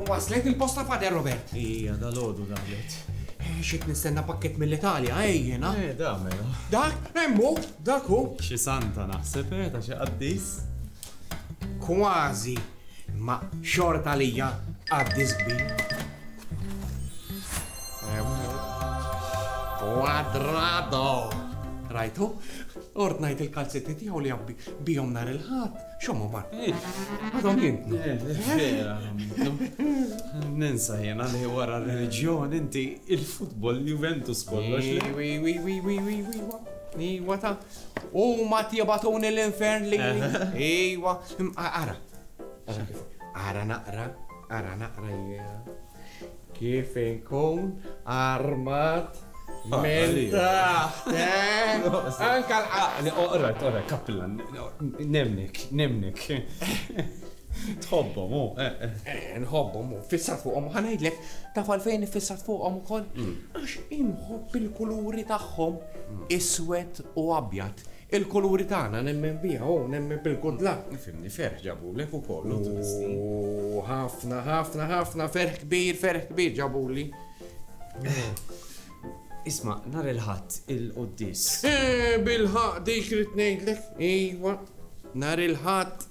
Waslet il-posta Fader Robert. Ija, dal-ħodu daħlet. Eh, Xit nistenna pakket mill-Italja, ejjena. Eh, da, mela. Dak, emmu, dak hu. Xi santa naħseb, eh, ta' xi qaddis. Kważi, imma xorta għalija għaddi żbin. Quadrado! Rajtu? Ordnajt il-kalzetti tiegħu li għabbi bijom nar il-ħadd, xommu mar. Għadhom jintnu. Ninsa jena li wara r-reliġjon inti il-futbol Juventus kollox. Iwa ta' Huma tibatuni l-infern li. Iwa, ara. Ara naqra, ara naqra jiena. Kif inkun armat minn taħt. Eh? Anka l-qaqli, oqra, oqra, kapillan. Nemnik, nemnik. Tħobbhom, u, eh, eh. Eh, nħobbhom, u fissat fuqhom, ħanajdlek, taf għalfejn fissat fuqhom ukoll? Mm. Għax inħobb il-kuluri tagħhom mm. iswed u abjad. Il-kuluri tagħna nemmen biha, u nemmen bil-kudla. Fimni ferħ ġabu lek ukoll. U ħafna, ħafna, ħafna, ferħ kbir, ferħ kbir ġabu li. Isma, nar il-ħadd il-qoddis. Eh, bil-ħaq dik rrid ngħidlek. Iwa, nar il-ħadd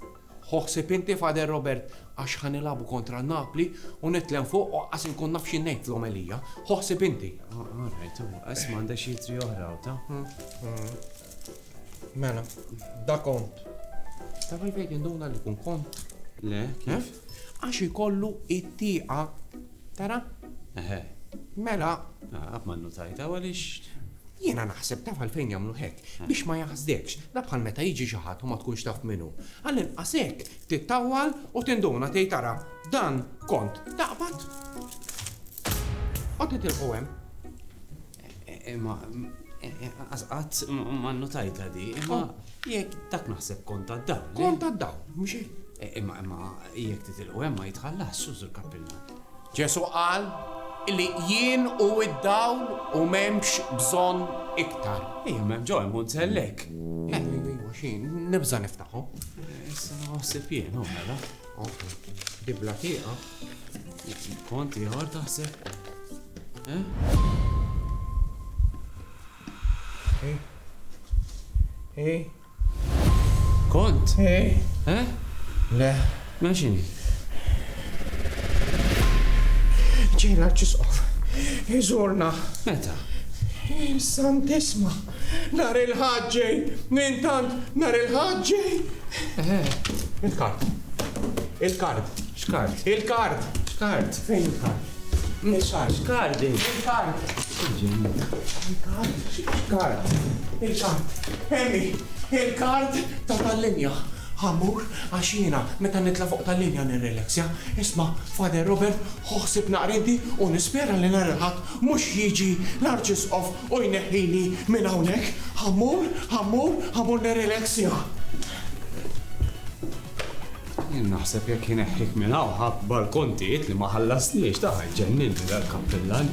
Ħu ħsieb inti, Father Robert, għax ħa nilagħbu kontra Napli u nitlgħen fuq u anqas inkun naf xi ngħid fl-omelija. Ħu ħsieb inti. All right, imma isma' għandek xi jittri oħra hawn, ta? Mela, da kont. Taf għalfejn qed induna li kun kont? Le, kif? Għax ikollu it-tieqa Tara? Eħe. Mela. Ah, ma nnutajta għaliex. Jiena naħseb taf għalfejn jagħmlu hekk, eh. biex ma jaħsdekx, da bħal meta jiġi xi ħadd u ma tkunx taf minnu. Għall-inqas hekk tittawwal u tinduna tgħid tara dan kont taqbad. Qod titilqu hemm. Imma qatt ma nnutajta di, imma oh. jekk dak naħseb kont għad-dawl. Kont għad-dawl, mhux hekk. E, imma imma jekk titilqu hemm ma jitħallas sużu l-kappilla. Ġesu qal li jien u id-dawl u m'hemmx bżonn iktar. Ejja m'hemm ġo hemm unsellek. Eh, xin, nibża niftaħu. Issa naħseb jien, u oh, mela. Dibla tieqa. Kont ieħor taħseb? Eh? Hey. Hey. Kont? Hey. Eh? Le. Ma xini? Ġejna ċisqof. Iżurna. Meta? Santissima. Nhar il-Ħadd ġej! Intant, nhar il-Ħadd ġej! Eħe, il-kard. Il-kard. X'kard? Il-kard! X'kard? Fejn il-kard? Il-kard. X'kard? Il-kard. Il-kard. X'kard? Il-kard. Emi, il-kard ta' tal-linja. Ħammur għax jiena meta nitla' fuq tal-linja nirrelaxja. Isma', Father Robert, ħu ħsieb naqra inti u nispera li nhar il-Ħadd mhux jiġi l-Arċisqof U jneħħini minn hawnhekk, ha mmur, ha mmur, ha mmur nirrileksja. Jien naħseb jekk ineħħik minn hawn ħabbar kontijiet li ma ħallastniex, ta' ħa jġenninni dal-kappillan.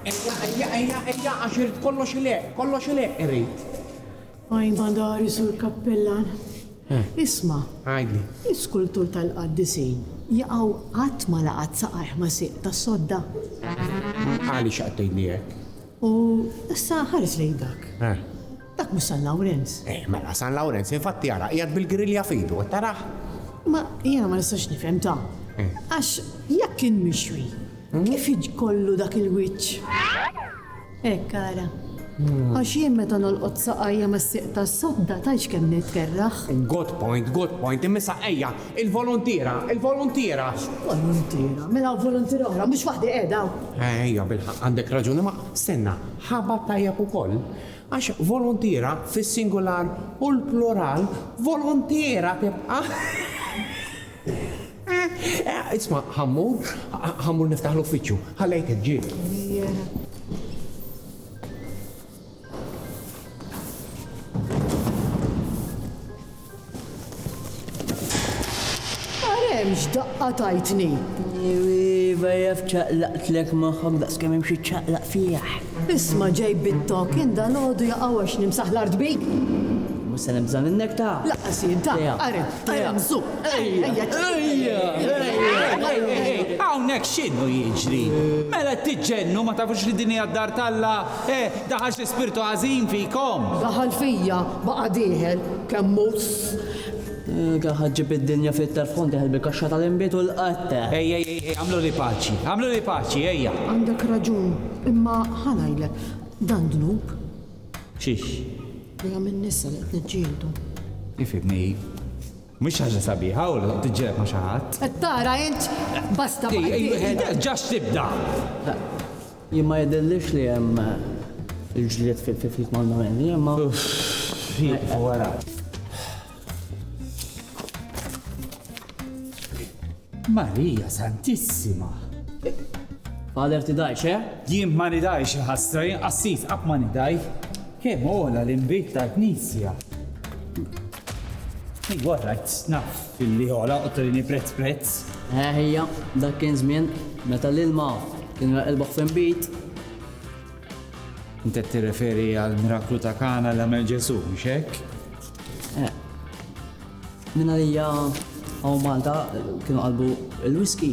Ejja, ejja, ejja, ejja, għax irid kollox ileqq, kollox ileqq irid. Għajn madari, Sur Kappellan. Isma'. Għidli. L-iskultur tal-Qaddisin jaqaw qatt ma laqat saqajh ma' sieq ta' sodda. Għaliex qed tgħidli hekk? U issa ħares lejn dak. Dak mhux San Lawrenz? Eh, mela, San Lawrenz, infatti ara, qiegħed bil-grilja f'idu, qed tarah? Ma jiena ma nistax nifhem ta. Eh. Għax jekk kien mixwi, hmm? kif jiġkollu dak il-wiċċ? Hekk eh, ara. Hmm. Għax jien meta nolqot saqajja ma siq ta' sodda tajx kemm nitkerraħ. Good point, good point, imma saqajja, il-volontira, il-volontira. Volontira, mela volontira oħra, mhux waħdi qiegħda. Ejja, bil-ħaq għandek raġuni ma' stenna, ħabat tajjeb ukoll. Għax voluntiera fis-singular u l-plural voluntiera tibqa' Isma', ħa mmur, ħa mmur niftaħ l-uffiċċju. Ħa lejtek, ġieli. Ara hemm x'daqqa tajtni! Iva jaf ċaqlaqtlek moħħok daqs kemm hemm xi ċaqlaq fih. Isma' ġej bit-tokk jien dalgħodu jaqaw għax nimsaħ l-art bik! Mhux se nibża' minnek ta'! Laqqas jien ta'! Ara, ara hemm żupp! Ejja! Ejja! Hawnhekk x'inhu jiġri? Mela qed tiġġennu ma tafux li din hija d-dar t'Alla? Eh, daħal xi spirtu ħażin fikom! Daħal fija, baqa' dieħel, kemm hu s. Kien ħa ġġib id-dinja fit-telf kont dieħel bil-kaxxa tal-inbid u l-qatgħa. Ej, ej, ej, ej, agħmluli paċi, agħmluli paċi, ejja! Għandek raġun, imma ħa ngħidlek, dan dnub. X'hix? Li għamilni issa li qed niġġieldu. Ifhimni. Mhix xi ħaġa sabiħa u li tiġġieled ma' xi ħadd. Qed tara int basta baqgħet wieħed. Ġax tibda! Jien ma jidhirlix li hemm il-ġlied fil-kifkif mal-Marelli, imma. Ħieqfu wara. Marija Santissima! Father tidhajx, eh? Jien ma nidhajx il-ħasra, jien qassis qatt ma nidhaj. Kemm ogħla l-inbid tal-Knisja. Hi għor rajt snaf fil-li għola u t-trini prezz prezz. Eħija, dak kien zmin, meta l-ilma kien raqilbaħ fin bit. Intet t-referi għal-miraklu ta' kana l-għamel ġesu, mxek? Eh. Minna li għaw Malta kienu għalbu il-whisky.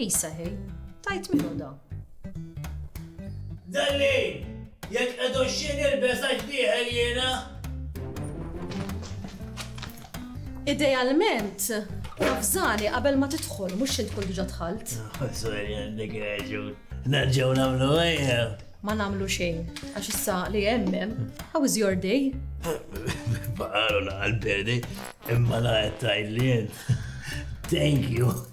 Isa hi, tgħid min hu dan? Dalli! Jekk qed uxxi nilbes għax dieħel jiena! Idealment, nafżani qabel ma tidħol mhux xi tkun diġà dħalt. Sorry għandek raġun. Nerġgħu nagħmlu għajja. Ma nagħmlu xejn, għax issa li hemm how is your day? Baqalu la qalbedi, imma la qed tgħidlien. Thank you.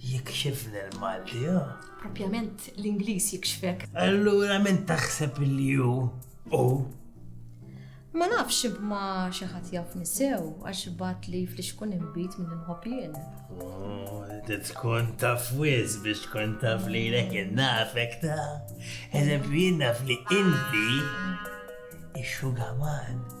Jikxifni l-Malti, ha? Propjament l-Ingliż jikxfek. Allura min taħseb li hu? U? Ma nafx imma xi ħadd jaf nisew għax bat li flix kun imbit minn inħobb jien. Oh, tkun taf wiz biex tkun taf li lek innafek ta' eżempju jien naf li inti ix-xugaman.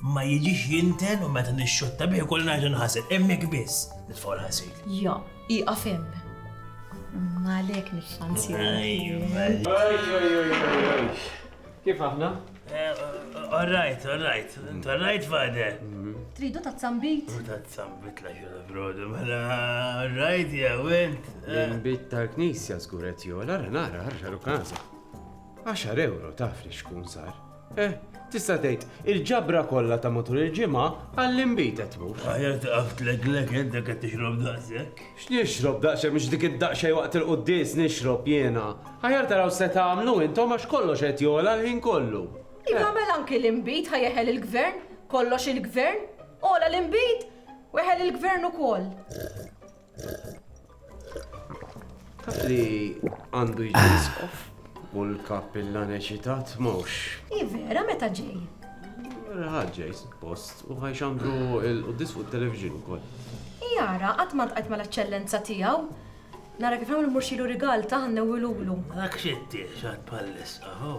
Ma jiġix jinten u meta nixxutta bih ukoll ngħidu nħasel. Hemmhekk biss nitfgħu l-ħasil. Ja, ieqaf hemm. Għalhekk mhix anzjana. Kif aħna? All right, all right. All right, father. Tridu ta' zambit? Ta' zambit la xura brodu, mela, all right, ja, went. L-imbit tal-knisja zguret jola, nara, għarra rukaza. 10 euro taf li xkun sar. Eh, tista' tgħid, il-ġabra kollha ta' matul il-ġimgħa għall-inbid qed tmur. Aħjar taqaf tleglek int dak qed tixrob daqshekk. X'nixrob daqshekk mhux dik id-daqsxejn waqt il-quddies nixrob jiena. Aħjar taraw x'se tagħmlu intom għax kollox qed jogħla l-ħin kollu. Iva mela anki l-inbid ħa jeħel il-gvern, kollox il-gvern, għola l-inbid u eħel il-gvern ukoll. Taf li għandu jġiskof u l-kappillan eċitat mhux. I vera meta ġej? Ħaġġej suppost u ħajxandru il-qudis fuq it-television ukoll. Jara, qatt ma tqajt mal-eċċellenza tiegħu. Nara kif nagħmlu murxilu rigal ta' ħannewilulu. Dak xittiħ xad pallissa, ho.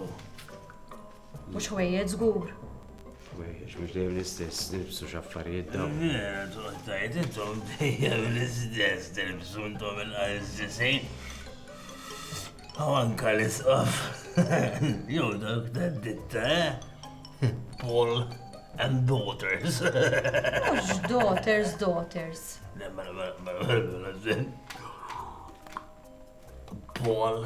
Mhux ħwejjeġ żgur. Ħwejjeġ mhux dejjem l-istess, nilbsu x'affarijiet dawn. Vera, toqgħod tgħid intom dejjem l-istess tilbsu intom il-qalżisin. Aw anka l-isqaf. Jew dawk tad-ditta, eh? Paul and daughters. Mhux daughters, daughters. Paul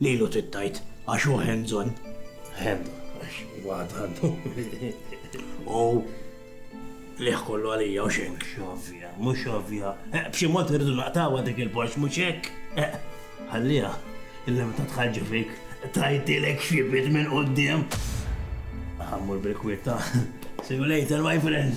Lilu trid tgħid għax hu hands on. Hands on għax huwa għad għandu. U liħ kollu għalija u xejn. Mhux ovvja, mhux ovvja. Eh, b'xi mod irridu naqtawha dik il-Porsche mhux hekk. Eh, ħallija, illa meta tħarġi fik tajtilek xi bit minn quddiem. Ħammur bil-kwitta. See you later, my friend.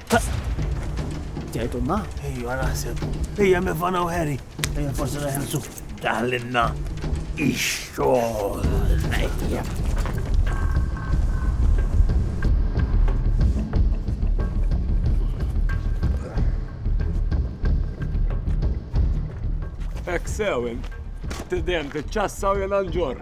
Tgħidu ma? Ejja naħseb. Ejja mevana u Harry. Ejja forsi neħelsu. Daħlinna. Ix-xogħol. Ejja. Ek sewin, t-dem t-ċassa u jena nġor.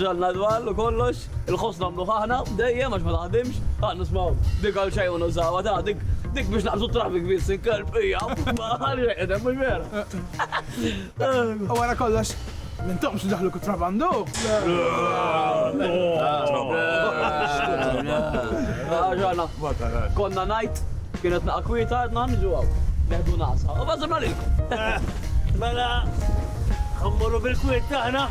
Ġallna dwal u kollox, il-ħoss nagħmluh aħna dejjem għax ma taħdimx, ah nismgħu dik għal xejn u nużawha ta' dik dik biex naqsu traffic biss il-kelb hija ma għal xejn qedem mhux vera. U wara kollox, Mintom xi daħlu kutrabandu? Ġana, konna najt, kienet naqa kwita, għadna nġu għaw. Neħdu nasa, u bazzimna lilkom. Mela, għammurru bil-kwit taħna.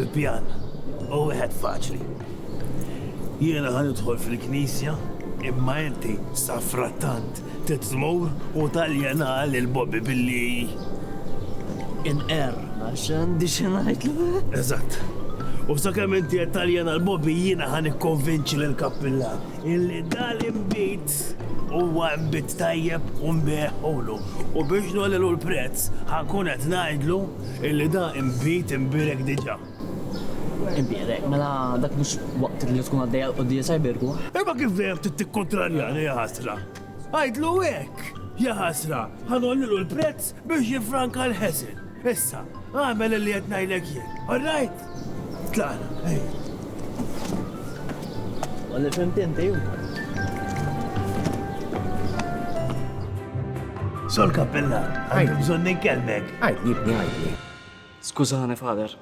Il-pjan u wieħed faċli. Jiena ħan idħol fil-knisja imma inti safrattant Tit tmur u taljena lil Bobby billi inqerr għax għandi xi ngħidlu. Eżatt. U sakemm inti qed taljena 'l Bobby jiena ħa nikkonvinċi lil Kappilla illi dal-inbid huwa inbid tajjeb u nbigħhulu. U biex ngħollilu l-prezz ħa nkun qed ngħidlu illi da inbid imbierek diġà. Imbierek, mela dak mhux waqt li tkun għaddejja l-quddiesa jbierku? Imma kif dejjem trid tikkontrarjani, jaħasra! Għidlu hekk! Jaħasra, ħa ngħollilu l-prezz biex jiffranka l-ħeżen. Issa, agħmel illi qed ngħidlek jien. All right? Tlaqna, ejja. Wara li fhimt inti hu. Sur Kappellan, għandi bżonn inkellmek. Għidli, ibni, għidli. Skużani, Father,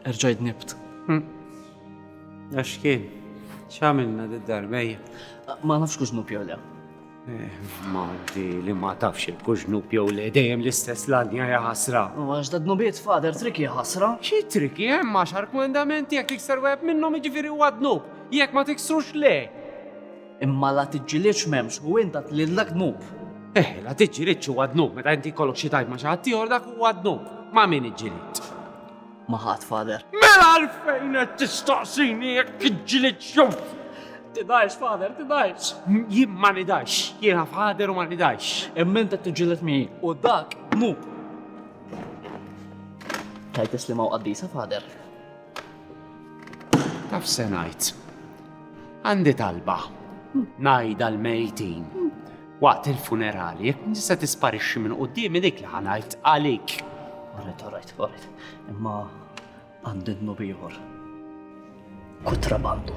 erġajt nibt. Għax kien, x'għamilna d-darbej? Ma nafx kux nub jew le. Ma di li ma tafx il-kux nub jew le dejjem l-istess ladja ja ħasra. U għax da dnubiet, Father, triki ħasra. Xi triki hemm għax argumendamenti jekk tikser wieħed minnhom jiġifieri huwa dnub, jekk ma tiksrux le. Imma la tiġġilidx m'hemmx u int għad lilna dnub. Eh, la tiġġilidx huwa dnub meta inti jkollok xi tajb ma' xi ħadd ieħor dak huwa dnub. Ma' min iġġilid? Ma' ħadd, Father. Mela għalfejn qed tistaqsini jekk tiġġilidx jew Tidgħix, Father, tidgħix. Jien ma nidgħix. Jiena Father u ma nidgħix. Imma int qed tiġġiled miegħi u dak dnub. Tgħid li ma' qaddisa, Father. Taf se ngħid. Għandi talba. Ngħidha l-mejtin. Waqt il-funerali, jekk nista' tisparixxi minn quddiem dik li ħanajt għalik. Għalet, għalet, għalet. Imma għandi d-nub ieħor. Kutrabandu.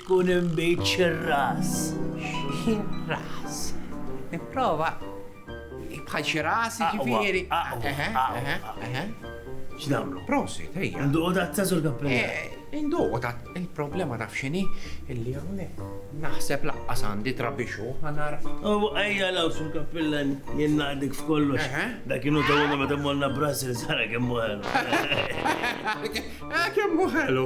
Tkun inbid xi-ras. Xi ras? Nipprova. Bħal xi ras, jiġifieri. Aqwa, aqwa, aqwa. X'nagħmlu? Prosit, ejja. Induqu tazza sur kappellett? Induqu tazza. Il-problema taf x'inhi? Illi hawnhekk naħseb lanqas għandi trabixxu ħa nara. U ejja l-hawn sur kappellett, jien naqdik f'kollox. Dak inhu tawna meta mmorna Brussels ara kemm hu ħelu. Kemm hu ħelu.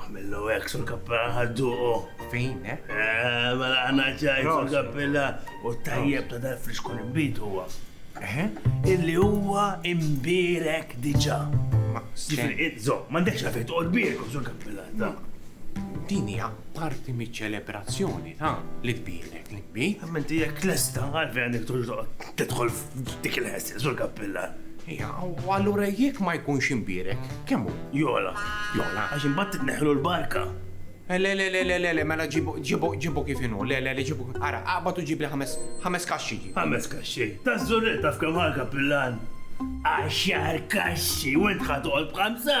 Għamillu hekk sur kappella ħadduqu. Fin, eh? Eh, mela għana ċajt sur kappella u tajjeb ta' dal friskun imbit huwa. Eh? Illi huwa imbirek diġa. Zo, mandekx għafet u għodbirek sur kappella ta' din hija parti miċ-ċelebrazzjoni ta' li tbirek li tbi. Menti hija klesta għalfejn għandek tidħol Dik il-ħessi, Sur Kappillan. Ija, u allura jekk ma jkunx imbierek, kemm hu? Jogħla. Jogħla. Għax imbagħad titneħħlu l-barka. Eh, le, le, le, le, le, mela ġibu, ġibu, ġibu kif inhu, le, le, le, ġibu, ara, aqbad u ġibli ħames, ħames kaxxi ġibu. Ħames kaxxi, ta' żurretta f'kemm ħal Kappillan. Għaxar kaxxi, u int ħatoqgħod b'ħamsa?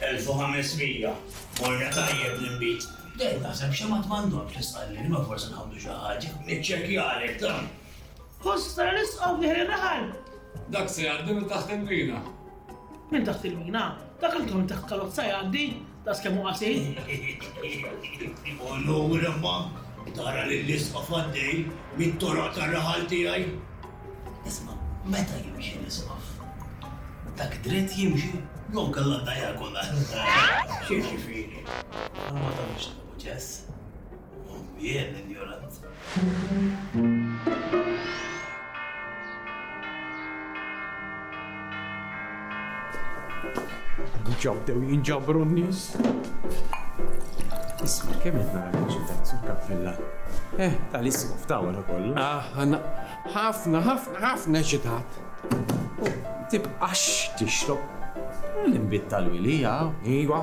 1500 Morna tajjeb l-inbid. Dejjem taħseb xi ma tmannokx tistqallini ma forsi nħawdu xi ħaġa. Niċċekkjalek dan. Post tara nisqgħu fih ir-raħal. Dak se jgħaddi minn taħt il-mina. Minn taħt il-mina? Dak anke minn taħt karozza jgħaddi, tas kemm hu qasir. U lura ma tara lil isqgħu faddej mit-toroq tar-raħal tiegħi. Isma', meta jimxi l-Isqof? Dak dritt jimxi jew inkella diagonal? X'jiġifieri? Ara ma tagħmilx nafu ċess. Jien injorant. Diġà bdew jinġabru n-nies. Isma' kemm qed nara l-ġidat sur kappella. Eh, tal-isma f'dawra kollu. Aħna ħafna ħafna ħafna ġidat. Tibqax tixrob. L-inbid tal-wilija. Iva.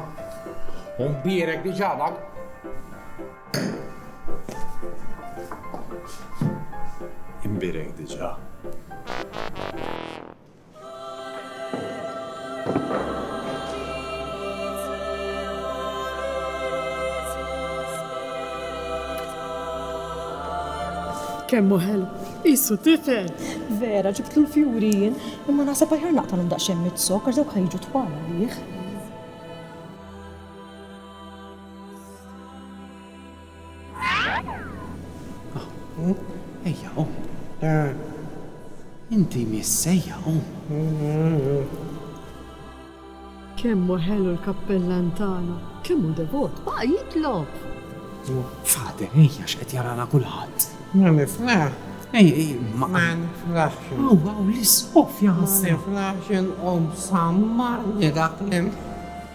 Umbierek diġà dak. Imbierek diġà. Kemm hu ħelu. Qisu tifel. Vera, ġibtlu l-fjuri jien, imma naħseb aħjar naqtalhom daqsxejn mit-zokar dawk ħajġu twal għalih. Ejja, qum. Inti missejja, qum. Kemm hu ħelu l-kappellan tagħna, kemm hu devot, baqa' jitlob. Fader, ejja x'qed jarana kulħadd. Ma niflaħ. Ej, ej, ma. Ma niflaħx. Aw, aw, l-isqof jaħseb. Ma niflaħx inqum samma li dak l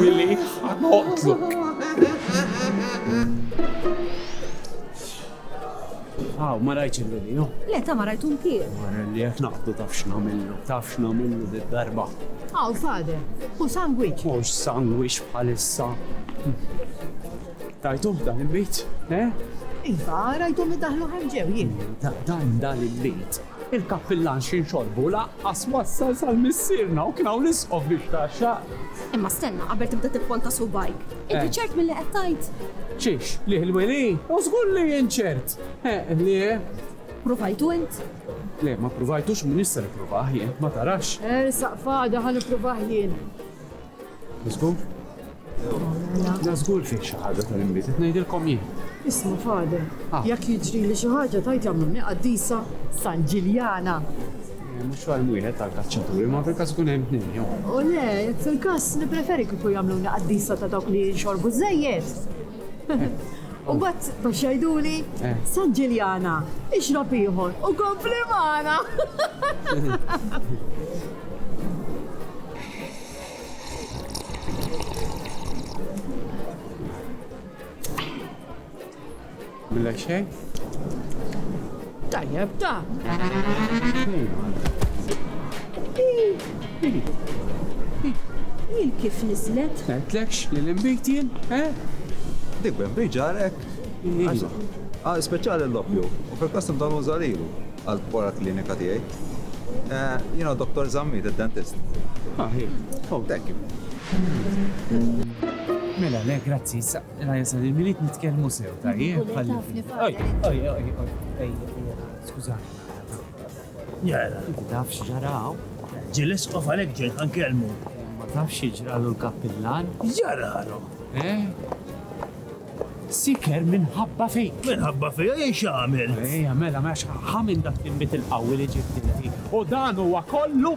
Willy, ħa noqtlok. Aw, ma rajtx il-Willy, no? Le, ta' ma rajtu ntier. Wara li qed naqdu taf x'nagħmillu, taf x'nagħmillu darba Aw, fade, u sandwich. Mhux sandwich bħalissa. Tajtu dan il-bit, eh? Iva, rajtu mi daħlu ħarġew jien. Dan dan il-bit Il-kappillan xi nxorbu lanqas wassal sal-missierna u kien hawn l-isqof biex ta x-xaqq. Imma stenna qabel tibda tipponta subgħajk. Inti ċert milli qed tgħid? Ċiex, liħ il-weli? U żgur li jien ċert! Eħ, liħ. Ppruvajtu int? Le, ma ppruvajtux, min jista' jippruvah jien, ma tarax? Ersaq f'għada ħa nippruvah jien. Żgur? La żgur fih xi ħaġa tal-inbid, qed ngħidilkom jien. Isma' Fader, ah. jekk jiġri li xi ħaġa tajt jagħmluni qaddisa San Ġiljana. Eh, mhux għal wieħed tal kaċċaturi, ma fil-każ ikun hemm tnejn jew. U le, fil-każ nippreferi kieku jagħmluni qaddisa ta' dawk li jinxorbu żejjed. U mbagħad taf x'għiduli? San Ġiljana, ixrob ieħor u kompli magħna! Milla xejn? Tajjeb da! Jien kif niżlet? M'għedtlekx li l-inbid jien, eh? Dik b'inbid ġarrek? Għal speċjali l-loppju, u fil-qasam ta' l-użalilu, għal para klinika tiegħi. Jiena Dottor Zammit, id-dentist. Aħ, hi. Oh, thank you. Mela, le, grazzi, issa. L-għajsa li nrid nitkellmu sew tajjeb ħalli fil. Oj, oj, oj, oj, ej, skużani. Jara. Inti taf x'ġaraw? Ġilis qof għalek ġejn ħankellmu. Ma taf x'ġralu l-kappillan? Jaralu. Eh? Siker minħabba fejk. Minħabba fejja jien x'għamil. Ejja, mela, mela, ħamin dak il-bit il-qawwi li ġibtilti. U dan huwa kollu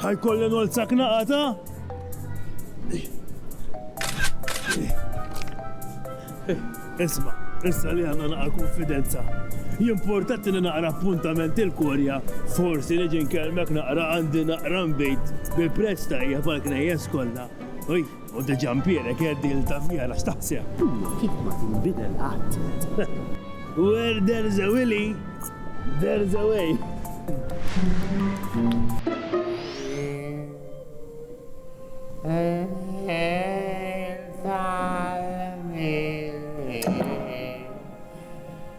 Ħa jkolli nolzak naqata. Isma, issa li għanna naqra konfidenza. Jimportat li naqra appuntament il-korja, forsi li ġin kelmek naqra għandi naqra mbejt bi presta hija pal knejjes kollha. Oj, U diġa Mpierek qed il-tavvija la x'taħseb? Hija kif ma tinbidel qatt. Where there's a Willy, there's a way.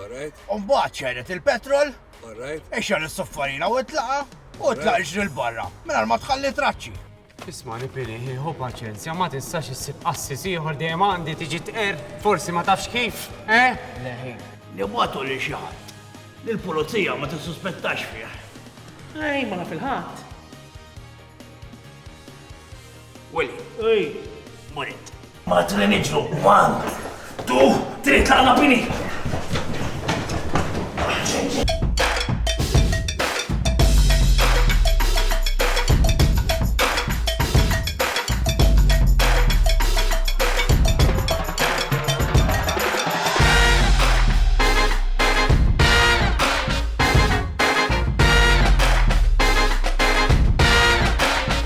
Mbagħad xegħlet il-petrol, ixgħel is-suffarina u itlaqha u tlaq iġri 'l barra mingħajr ma tħalli traċċi. Ismagħni Billy, ħu paċenzja, ma tistax issib qassis ieħor dejjem għandi tiġi tqerr, forsi ma tafx kif, eh? Leħi. Nibgħatu lil xi ħadd li l-pulizija ma tissuspettax fih. Ej, ma naf il-ħadd. Willy. Ej. Morit. Malti li niġru, man! Tu, trid tlaqna bini!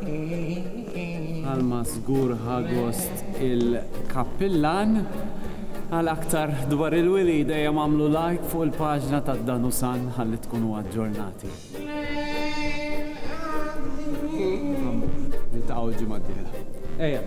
Bħalma żgur ħa gost il-Kappillan, għal aktar dwar il-Wilied ejja agħmlu like fuq il-paġna ta' Danusan ħalli tkunu aġġornati. Niltaqgħu l-ġimgħa d-dieħla. Ejja.